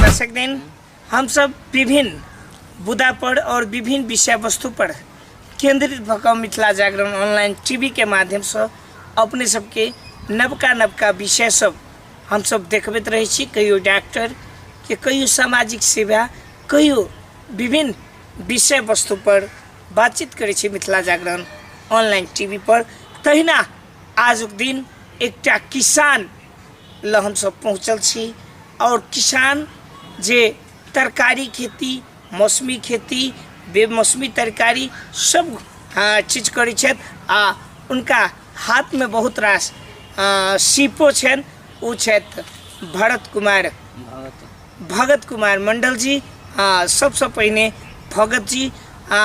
दर्शक दिन हम सब विभिन्न बुदा पर और विभिन्न विषय वस्तु पर केंद्रित भक मिथिला जागरण ऑनलाइन टीवी के माध्यम से अपने सबके नवका नवका विषय सब हम सब देखबैत रहै छी कहियो डॉक्टर के कहियो सामाजिक सेवा कहियो विभिन्न विषय वस्तु पर बातचीत करै छी मिथिला जागरण ऑनलाइन टीवी पर तहिना आजुक दिन एकटा किसान लऽ हमसभ पहुँचल छी आओर किसान जे तरकारी खेती मौसमी खेती बेमौसमी तरकारी सब आ, चीज करै छथि आ हुनका हाथमे बहुत रास आ, सीपो छनि ओ छथि भरत कुमार भगत कुमार मंडल जी आ सबसे पहिने भगत जी आ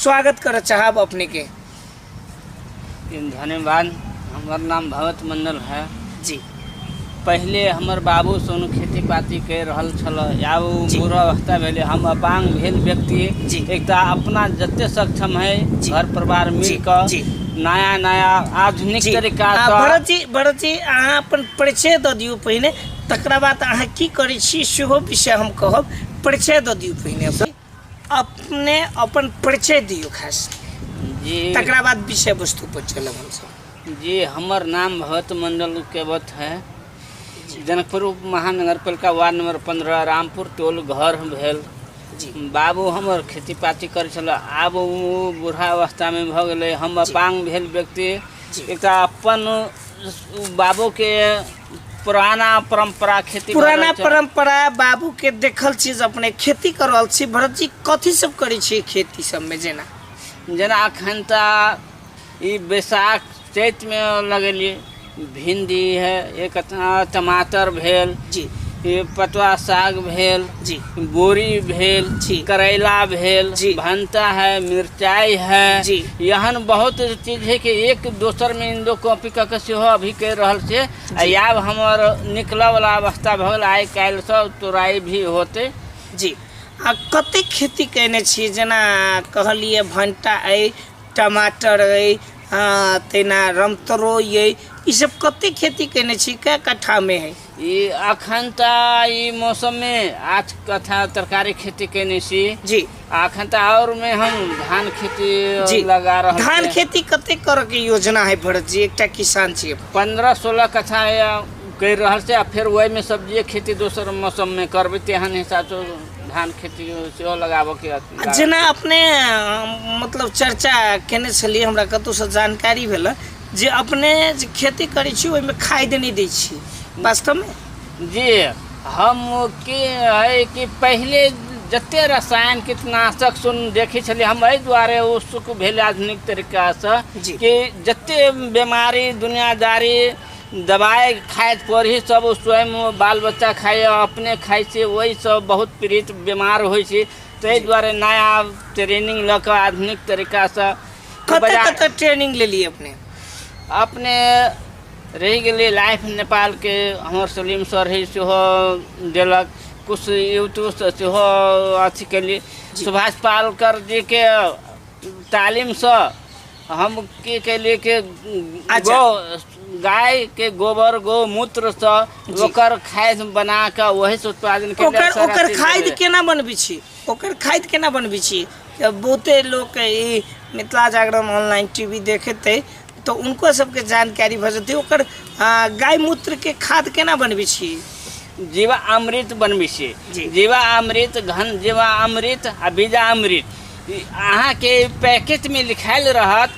स्वागत करऽ चाहब अपने के धन्यवाद हमर नाम भगत मंडल है जी पहिले हमर बाबू सोनू खेती पाती कर रहल छल आब ओ जी। बुरा अवस्था भेलै हम अपांग भेल व्यक्ति जी। एक तऽ अपना जते सक्षम है जी। घर परिवार मिल जी, कऽ जी। नया नया आधुनिक जी तरीका आ भरत जी भरत जी अहाँ अपन परिचय दऽ दियौ पहिने तकरा बाद अहाँ की करै छी सेहो विषय हम कहब परिचय दऽ दियौ पहिने अपन अपने अपन परिचय दियौ खास जी तकरा बाद विषय वस्तु पर चलब हमसब जी हमर नाम भगत मंडल केवत है जनकपुर उप महानगर पालिका वार्ड नंबर पंद्रह रामपुर टोल घर भेल जी बाबू हमर खेती पाती करै छल आब ओ बूढ़ा अवस्थामे भऽ गेलै हम अपाङ्ग भेल व्यक्ति जी। एकटा अपन बाबूके पुराना परंपरा खेती पुराना भारत- परंपरा बाबू के देखल चीज अपने खेती कर रहल छी भरत जी कथी सब करै छी खेती सब में जेना जेना अखन तऽ ई बैसाख चैतमे लगेलियै भिंडी है एक अतना टमाटर भेल जी ई पटुआ साग भेल जी बोरी भेल करैला भेल भंटा है मिरचाई है एहन बहुत चीज है कि एक दोसर में इंदो कॉपी कऽ के सेहो अभी कर रहल छै आ जी आब हमर निकलऽ वाला अवस्था भऽ गेल आइ काल्हि सब तोराई भी होते जी आ कते खेती कयने छी जेना कहलियै भंटा अइ टमाटर अइ आ तहिना रमतोरइ अइ ईसभ कते खेती कयने छी कए कट्ठामे अइ ई अखन त ई मौसम मे आज कथा तरकारी खेती केने छी जी आ अखन त और मे हम धान खेती जी लगा रहल धान छी खेती कते करऽ के योजना है भरत जी एकटा किसान छी अपन। पंद्रह सोलह कथा या करि रहल छै आ फेर ओहि मे सब्जिए खेती दोसर मौसम मे करबै तेहन हिसाब सँ धान खेती सेहो लगाबऽ के अथी आ लागल जेना छै। अपने अ, मतलब चर्चा केने छलियै हमरा कतहुसँ जानकारी भेल जे अपने जे खेती करै छी ओहिमे खाद नहि दै छी वास्तवमे जे हम के है कि पहिले जते रसायन कीटनाशक सुन देखै छलियै हम एहि दुआरे ओ सुख भेल आधुनिक तरीकासँ जी। कि जते बीमारी दुनियादारी दबाइ खाइत पड़ही सब ओ स्वयं ओ बाल बच्चा खाइए अपने खाइ छी ओहिसँ बहुत पीड़ित बीमार होइ छी ताहि दुआरे नया ट्रेनिंग लऽ कऽ आधुनिक तरीकासँ कते बजा- कते ट्रेनिंग लेलिए अपने अपने रहि गेलै लाइफ नेपालके हमर सलीम सर है सेहो देलक कुछ यूट्यूबसँ सेहो अथी केली सुभाष पालकर जीके तालीमसँ हम की केली कि अच्छा। गौ गायके गोबर गौमूत्रसँ जी। ओकर खाद बना कऽ ओहीसँ उत्पादन केली ओकर सारा ओकर चीज खाद भेलै। केना बनबै छी ओकर खाद केना बनबै छी जब बहुते लोक ई मिथिला जागरण ऑनलाइन टीवी देखेतै तऽ उनको सबके जानकारी भऽ जेतै ओकर आ, गाय मूत्र के खाद केना बनबै छी जीवा अमृत बनबै जी। छियै जीवा अमृत घन जीवा अमृत आ बीजा अमृत ई अहाँके पैकेटमे लिखायल रहत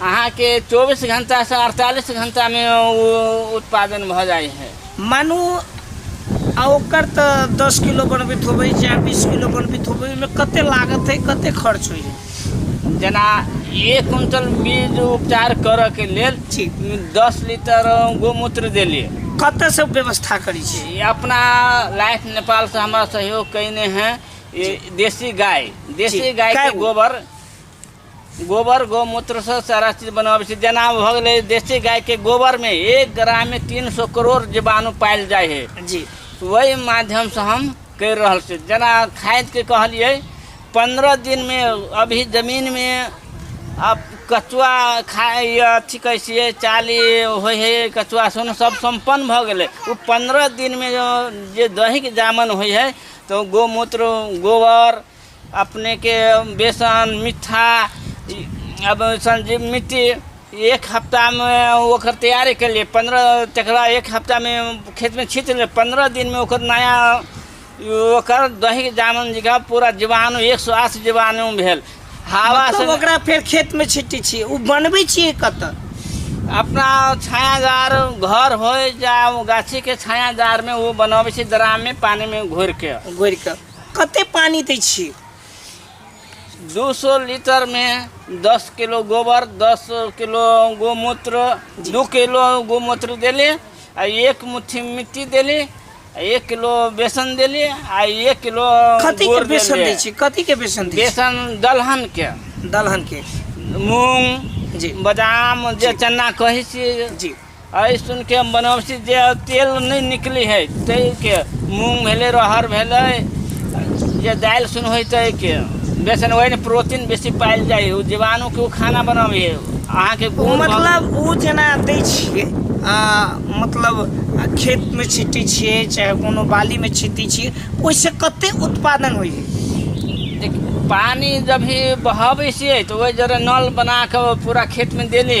अहाँके चौबीस घण्टासँ अड़तालीस घण्टामे ओ उत्पादन भऽ जाइ हइ मानू आ ओकर तऽ दस किलो बनबैत होबै चाहे बीस किलो बनबैत होबै ओहिमे कतेक लागत हइ कतेक खर्च होइ हइ जेना एक क्विंटल बीज उपचार करऽके लेल ठीक दस लीटर गोमूत्र देलियै कतऽसँ व्यवस्था करै छी ई अपना लाइफ नेपालसँ हमरा सहयोग कयने हैं ई देसी गाय देसी जी, गाय गाय के गो। गोबर गोबर गोमूत्रसँ सारा चीज बनाबै छै जेना भऽ गेलै देसी गायके गोबरमे एक ग्राममे तीन सौ करोड़ जीवाणु पायल जाइ है जी ओहि माध्यमसँ हम करि रहल छी जेना खादके कहलियै पन्द्रह दिनमे अभी जमीनमे आब कचुआ खाइ अथी कहै छियै चाली होइ है कचुआ सुन सब सम्पन्न भऽ गेलै ओ पन्द्रह दिनमे जे दैहिक जामन होइ है तऽ गोमूत्र गोबर अपने के बेसन मिठा इ- अब संजीव मिट्टी एक हफ्ता में ओकर तैयारी कर लिए पंद्रह तकरा एक हफ्ता में खेत में छीट ले पंद्रह दिन में ओकर नया ओकर दही जामन जी का पूरा जीवाणु एक सौ अस्सी जीवाणु भेल हवा से मतलब ओकरा फेर खेत में छिट्टी छियै ओ बनबै छियै कतऽ अपना छायादार घर हो जा गाछी के छायादार में वो बनावे छी ड्राम में पानी में घोर के घोरि कऽ कते पानी दै छियै दू सौ लीटर मे दस किलो गोबर दस किलो गोमूत्र दू किलो गोमूत्र देली आ एक मुट्ठी मिट्टी देली आ एक किलो बेसन देली आ एक किलो कथी के गुड़ बेसन देली। दै छियै कथी के बेसन दै छियै बेसन दलहन के दलहन के मूंग जी बादाम जे चना कहै छियै जी एहि सुन के बनौसी जे तेल नहि निकली है ताहि के मूंग भेलै रहर भेलै जे दालि सुन होइ ताहि के बेसन ओहिमे प्रोटीन बेसी पायल जाइ है ओ जीवाणु के ओ खाना बनाबै है अहाँके ओ गुण भऽ- मतलब ओ जेना दै छियै आ मतलब आ खेतमे छिटै छियै चाहे कोनो बालीमे छिटै छियै ओहिसँ कते उत्पादन होइ है देख पानि जब भी बहाबै छियै तऽ ओहि जरे नल बना कऽ पूरा खेतमे देली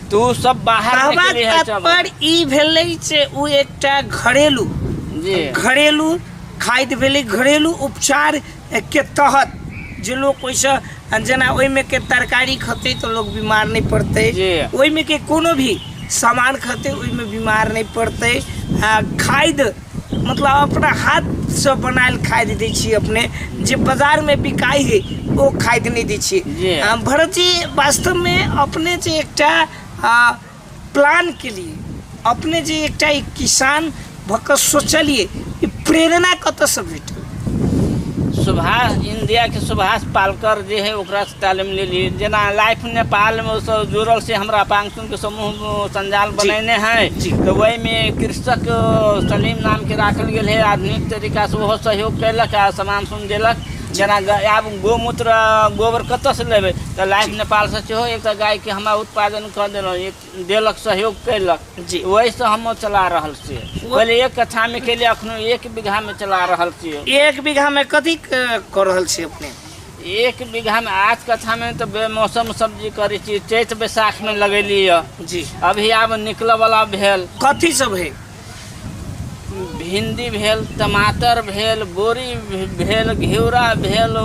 तू सब बाहर कहबाक निकली है सब तात्पर्य ई भेलै जे ओ एकटा घरेलू जी घरेलू खाद्य भेलै घरेलू उपचार के तहत जे लोक ओहिसँ जेना ओहिमे के तरकारी खेतै तऽ लोक बीमार नहि पड़तै जी। ओहिमे के कोनो भी सामान खेतै ओहिमे बीमार नहि पड़तै आ खाद्य मतलब अपना हाथसँ बनायल खाद दै छियै अपने जे बाजारमे बिकाइ है ओ खाद नहि दै छियै आ भरत जी वास्तवमे अपने जे एकटा प्लान केलियै अपने जे एकटा किसान भऽ कऽ सोचलियै ई प्रेरणा कतऽसँ भेटल सुभाष इन्डियाके सुभाष पालकर जे है ओकरासँ तालीम लेलियै जेना लाइफ नेपालमे ओसभ जुड़ल से हमरा पास के समूह संजाल बनेने है तो वही में कृषक सलीम नाम के राखल गेल है आधुनिक तरीका से ओहो सहयोग कैलक आ सामान सुन देलक जेना ग- आब गोमूत्र गोबर कतऽ से लेबै तऽ लाइफ नेपाल से सेहो एकटा गाय के हमरा उत्पादन कऽ देलहुँ एक देलक सहयोग कैलक जी। वही से हम चला रहल छियै पहिले एक कट्ठा में केलियै अखनो एक बीघा में चला रहल छियै एक बीघा में कथी क- कऽ रहल छी अपने एक बीघा में आठ कट्ठा में तो बेमौसम सब्जी करी छी चैत बैसाख में लगेली है जी अभी आब निकल वाला भेल कथी सब है भिंडी भेल टमाटर भेल बोरी भे- भेल घिउरा भेल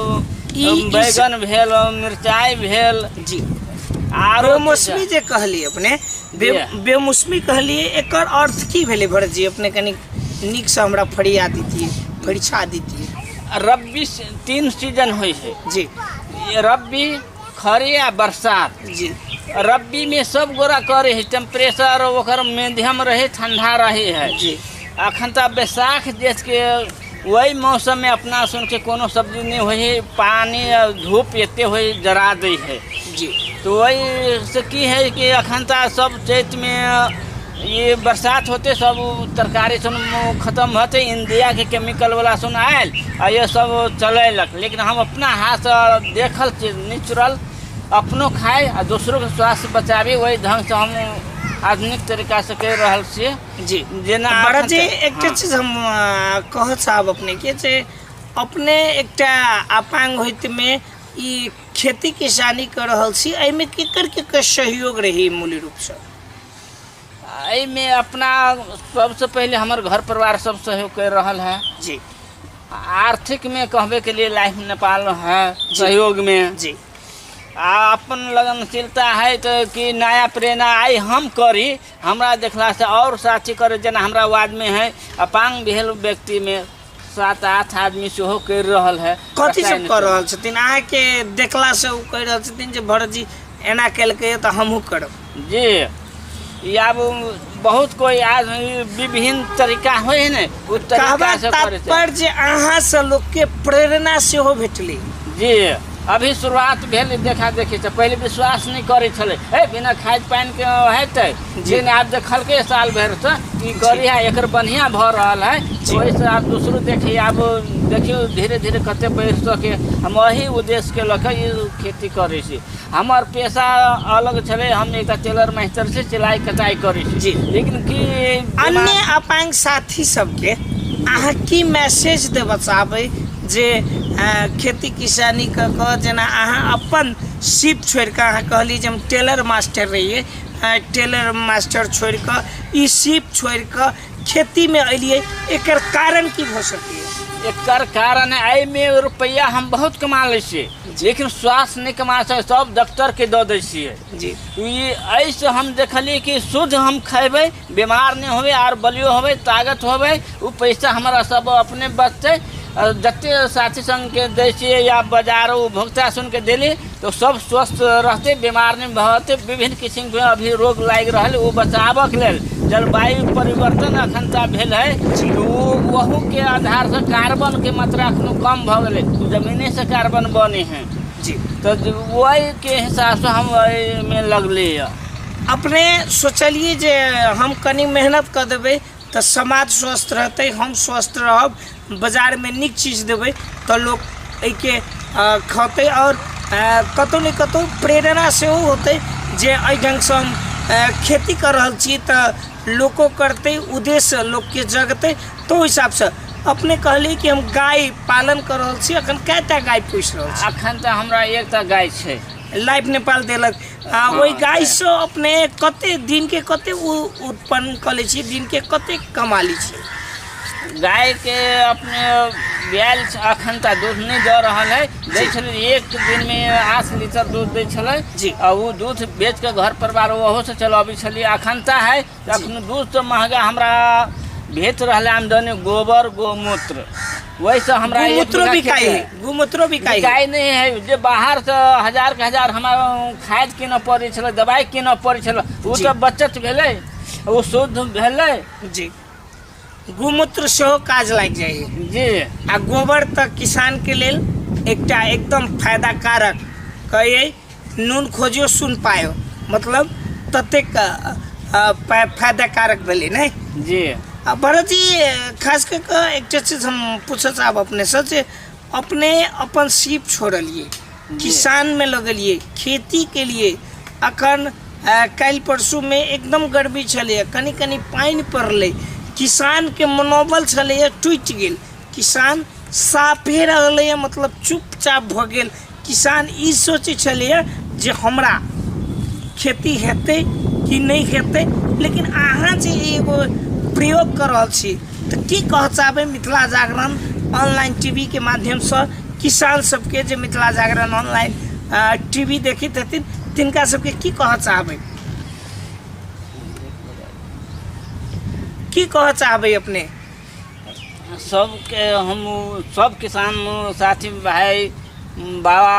ई- ई बैगन भेल मिरचाई भेल जी आरो बेमौसमी जे कहली अपने बे, Yeah. बेमौसमी कहली एकर अर्थ की भेलै भरत जी अपने कनी नीक से हमरा फरिया दीतिए फरिछा दीतिए रब्बी सी- तीन सीजन होइ छै जी ये रब्बी खरी आ बरसात जी रब्बी में सब गोरा करे है टेम्परेचर ओकर मध्यम रहे ठंडा रहे है जी अखन तऽ बैसाख जेठ के वही मौसम में अपना सुन के कोनो सब्जी नहीं होइ है पानी आ धूप एते होइ जरा दै है जी तो वही से की है कि अखन तऽ सब चैत में ई बरसात होते सब तरकारी सुन खत्म होते इंडिया के केमिकल वाला सुन आयल आ ये सब चलेलक लेकिन हम अपना हाथ से देखल चीज नेचुरल अपनो खाए आ दोसरो के स्वास्थ्य बचाबी वही ढंग से हम आधुनिक तरीका से कर रहल छियै जी जेना तऽ भरत जी अखन- एकटा हँ। चीज हम अ, कहऽ चाहब अपने के जे अपने एकटा अपांग होइत मे ई खेती किसानी कर रहल छी एहिमे केकर केकर सहयोग रही मूल रूप से एहिमे अपना सबसँ पहिले हमर घर परिवार सब सहयोग करि रहल है जी आर्थिक में कहबे के लिए लाइफ नेपाल है सहयोग में जी आ अपन लगनशीलता है तो कि नया प्रेरणा आई हम करी हमरा देखला से और साथी करे जेना हमरा वार्ड में है अपांग भेल व्यक्ति में सात आठ आदमी सेहो करि रहल है कथी कसाइ सब नहि कर रहल छथिन अहाँके देखला से ओ कहि रहल छथिन जे भरत जी एना केलकैए तऽ हमहूँ करब करै। जी ई आब बहुत कोई आज ई विभिन्न तरीका होइ है ने ओ तरीका कहबाक से करै छै तात्पर्य जे अहाँ से लोकके प्रेरणा सेहो भेटलै जी अभी शुरुआत भेल देखा देखी से पहिले विश्वास नहि करै छलै हे बिना खाद पानिके हेतै जे ने आप देखलके साल भर से ई गड़ी है एकर बढ़िया भ रहल है जी। ओहि से आप दूसरो देखिए आप देखियो धीरे धीरे कते बढ़ सके हम वही उद्देश्य के लके ई खेती करे छी हमर पेशा अलग छले हम एक टेलर मास्टर से सिलाई कटाई करे छी जी। लेकिन की अन्य अपाङ्ग साथी सबके अहाँ की मैसेज देबऽ चाहबै जे अ, खेती किसानी कऽ कऽ जेना अहाँ अपन सिप छोड़ि कऽ अहाँ कहली जे हम टेलर मास्टर रहियै आइ टेलर मास्टर छोड़ि कऽ ई सीप छोड़ि कऽ खेतीमे अयलियै एकर कारण की भऽ सकैए एकर कारण एहिमे रुपैआ हम बहुत कमा लै छियै लेकिन स्वास्थ्य नहि कमा सकै सब डॉक्टरके दऽ दै छियै जी ई एहिसँ हम देखलियै कि शुद्ध हम खयबै बीमार नहि होबै आर बलियो होबै तागत होबै ओ पैसा हमरा सब अपने बचतै आओर जते साथी सङ्गके दै छियै या बजारो भोक्ता सुनिके देली तऽ सब स्वस्थ रहतै बीमार नहि भऽ विभिन्न किसिमके अभी रोग लागि रहल ओ बचाबऽके लेल जलवायु परिवर्तन एखन तऽ भेल है ओहूके आधारसँ कार्बनके मात्रा एखनो कम भऽ गेलै जमीनेसँ कार्बन बने है जी तऽ ओहिके हिसाबसँ हम एहिमे लगलै यऽ अपने सोचलियै जे हम कनि मेहनत कऽ देबै तऽ समाज स्वस्थ रहतै हम स्वस्थ रहब बाजारमे नीक चीज देबै तऽ लोक एहिके खेतै आओर कतहु ने कतहु प्रेरणा सेहो होतै जे एहि ढङ्गसँ हम खेती कऽ रहल छी तऽ लोको करतै उद्देश्य लोकके जगतै तऽ ओहि हिसाबसँ अपने कहलिए कि हम गाइ पालन कऽ रहल छी एखन कएटा गाइ पोसि रहल छी एखन तऽ हमरा एकटा गाइ छै लाइफ नेपाल देलक आ ओहि गाइसँ अपने कतेक दिनके कतेक उत्पन्न कऽ लै छी दिनके कतेक कमा लै छी गायके अपने बियाल अखन तऽ दूध नहि दऽ रहल है दै छलै एक दिनमे आठ लीटर दूध दै छलै जी। आ ओ दूध बेच कऽ घर परिवार ओहो से चलबै छलियै अखन तऽ है तऽ अखन दूध तऽ महगा हमरा भेट रहलै आमदनी गोबर गोमूत्र वैसे हमरा एक गुमूत्रो बीघा बिकाई खेत है। है गुमूत्रो बिकाई है गाय नहि है जे बाहर से हजार के हजार हमरा खाद कीनऽ पड़ै छलै दवाइ कीनऽ पड़ै छलै ओ जी। तऽ बचत भेलै ओ शुद्ध भेलै जी गोमूत्र सेहो काज लागि जाइ छै जी आ गोबर तऽ किसानके लेल एकटा एकदम फायदा कारक कहै नून खोजियो सुन पायो मतलब ततेक फायदा कारक भेलै ने जी आ भरतजी खास कऽ कऽ एकटा चीज हम पूछऽ चाहब अपनेसँ जे अपने अपन सीप छोड़लियै किसानमे लगलिए खेती केलिए अखन काल्हि परसूमे एकदम गर्मी छलैए कनि कनि पानि पड़लै किसानके मनोबल छलैए टुटि गेल किसान साफे रहलैए मतलब चुपचाप भऽ गेल किसान ई सोचै छलैए जे हमरा खेती हेतै कि नहि हेतै लेकिन अहाँ जे एगो प्रयोग कऽ रहल छी तऽ की कहऽ चाहबै मिथिला जागरण ऑनलाइन टीवीके माध्यमसँ किसान सबके जे मिथिला जागरण ऑनलाइन टीवी देखैत हेथिन तिनका सबके की कहऽ चाहबै की कहऽ चाहबै अपने सबके हम सब किसान साथी भाई बाबा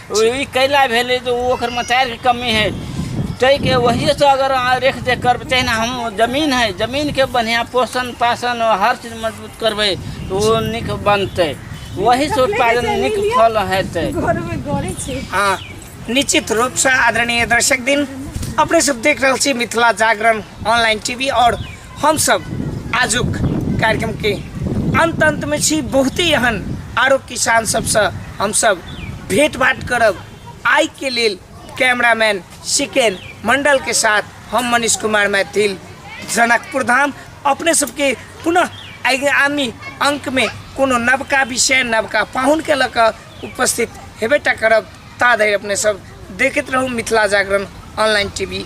ई कैला भेलै तऽ ओ ओकर मतारीके कमी है ताहिके वहीसँ अगर अहाँ रेख देख करबै तहिना हम जमीन है जमीनके बढ़िआँ पोषण पाषण हर चीज मजबूत करबै तऽ ओ नीक बनतै वहीसँ उत्पादन नीक फल हेतै हँ निश्चित रूपसँ आदरणीय दर्शक दिन अपने सब देख रहल छी मिथिला जागरण ऑनलाइन टीवी आओर हमसभ आजुक कार्यक्रमके अन्त अन्तमे छी बहुते एहन आरो किसान सभसँ हमसभ भेंट भाट करब आइके लेल कैमरामैन सिकेन मण्डलके साथ हम मनीष कुमार मैथिल जनकपुर धाम अपने सबके पुनः आगामी अङ्कमे कोनो नवका विषय नवका पाहुनके लऽ कऽ उपस्थित हेबे टा करब ता धरि अपने सब देखैत रहू मिथिला जागरण ऑनलाइन टीवी